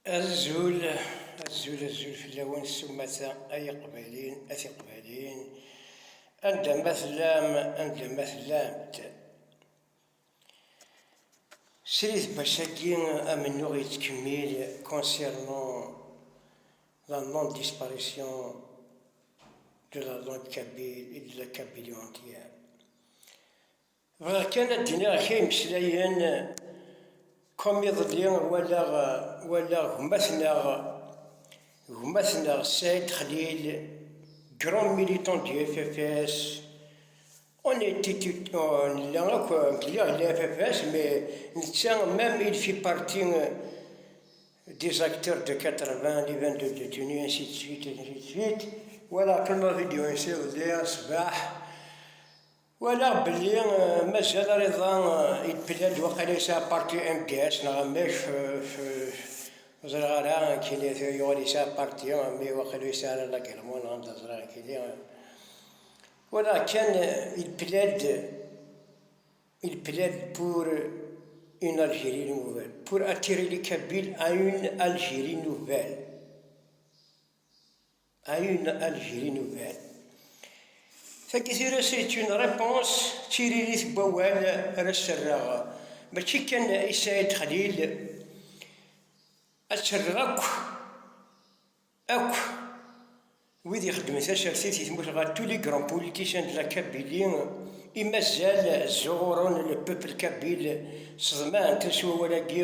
Azul, azul, azul fell-awen s umata ay iqbayliyen, a tiqbayliyin, anda ma tellam, anda ma tellamt. Srid Bac-agi amennuɣ yettkemmil concernant la non-disparition de la langue kabyle et de la Kabylie entière. Bɣiɣ kan ad d-iniɣ kra imeslayen, comme iḍelli walaɣ walaɣ gma-tneɣ gma-tneɣ Saïd Khlil, grand militant du FFS, on était tout nella akk ngliɣ la FFS mais netta même il fit partie des acteurs de 80, les 22 détenus, ainsi de suite, ainsi de suite. Walaɣ kan ma vidéo-ines iḍelli ṣṣbeḥ. Walaɣ belli mazal ariḍa yebla-d waqila yesɛa parti MDS neɣ amek, ur ẓriɣ ara, nekkini yuɣal yesɛa parti, mi waqila yesɛa ara lagelmu neɣ anda ẓriɣ nekkini. Walaɣ kan il plaide, il plaide pour une Algérie nouvelle, pour attirer les Kabyles à une Algérie nouvelle. Ayen ad gri nugar. Tagi tira c'est une réponse d tiririt n wawal ara s-rreɣ, mačči kan i Saïd Khalil, ad tt-rreɣ akk, akk wid ixeddmen tasertit i tmurt ɣer tous les grands politiciens de la Kabylie i mazal ẓẓuɣuren le peuple kabyle, ṣeḍmant-as wawal-agi.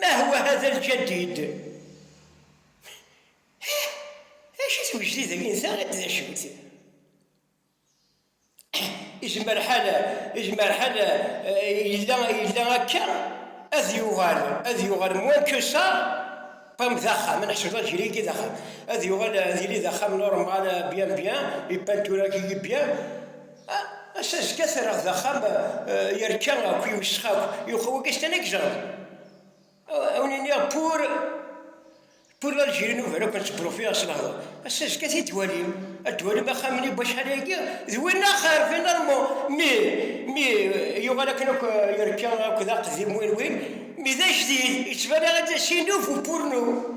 Ma hwa hada lǧadid. Hih, acu twejdidin ta d acu-t? Izmer ḥal, izmer ḥal yella, yella akka ad yuɣal, ad yuɣal moins que ça, comme d axxam, ad neḥseb lǧil-agi d axxam, ad yuɣal ad yili d axxam normal bien bien, ipanturagi bien, Ass-a zgiɣ terraɣ d axxam yerka akk, yewsex akk, yuqa wagi s tana gejreḍ. A wen-iniɣ pour pour l'Algérie nouvelle akk ad tt-brufiɣ s lehdur. Ass-a zgiɣ ad t-id-twalim, ad d-twalim axxam-nni n wacḥal ayagi d winna xir finalement mi mi yuɣal akken akk yerka akk d aqdim win win mi d ajdid yettban-aɣ-d d asinuf pour nous.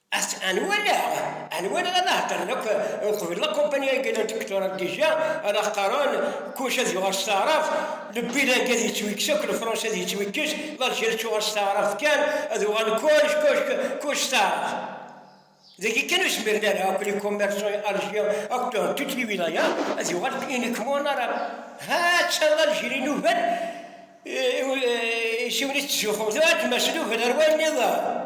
At anwaleɣ, anwaleɣ ad aheddren akk uqbel lakumpani agi la dikturan dija, ala qqaren kullec ad yuɣal s taɛrabt, lebid agi ad yettwikkes akk, lefransi ad yettwikkes, laljer ad tuɣal s taɛrabt kan, ad uɣalen kullec, kullec, kullec s taɛrabt. Dagi kan ur zmiren ara akk likumersan i Alji akk toute liwilaya ad yuɣal uniquement en arabe. Ha atta Laljer i nugar i siwen i tettzuxxum, tuɣal tmesluben ar wayen niḍen.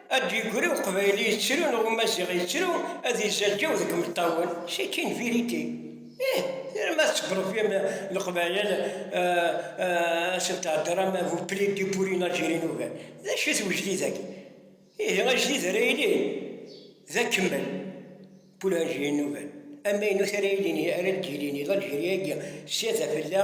Ad d-yegri uqbayli yettru neɣ umaziɣ yettru, ad izaǧǧaw deg imeṭṭawen, c'est une vérité. Ih, tram ad tesbṛebrim Leqbayel, ad sen-theddṛem, vous plaidez pour une Algérie nouvelle. D acu-t wejdid-agi? Ihi ajdid ara yilin d akemmel, pour une Algérie nouvelle, amaynut ara yilin, ara d-yilin i Lalgérie-agi, s yadaf n la.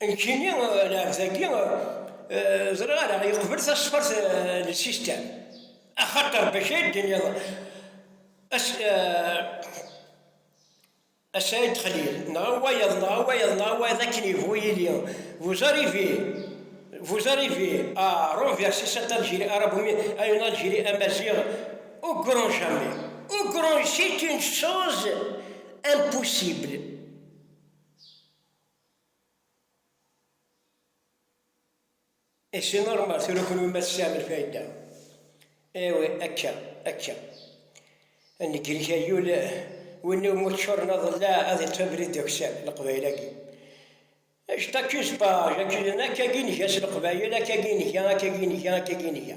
Nekkini lɛebd-agi ẓriɣ ara yeqbel tasfert n lsistem, axaṭer bac ay d-tiniḍ a Saɛid Xlil, neɣ a wayeḍ, neɣ a wayeḍ, neɣ a wayeḍ akken yebɣu yili, vous arrivez, vous arrivez à renverser cette Algérie arabo-mi à une Algérie amaziɣ au grand jamais, au grand, c'est une chose impossible. Et c'est normal, tura kunwi ma tesɛam lfayda, awi akka, akka. Ad negrek ay ul, winna umi ččuren aḍellaɛ ad iṭṭef abrid d akessar, Leqbayel-agi. Actaq-is pa, akkagi i nga s Leqbayel, akkagi i nga, akkagi i nga, akkagi i nga.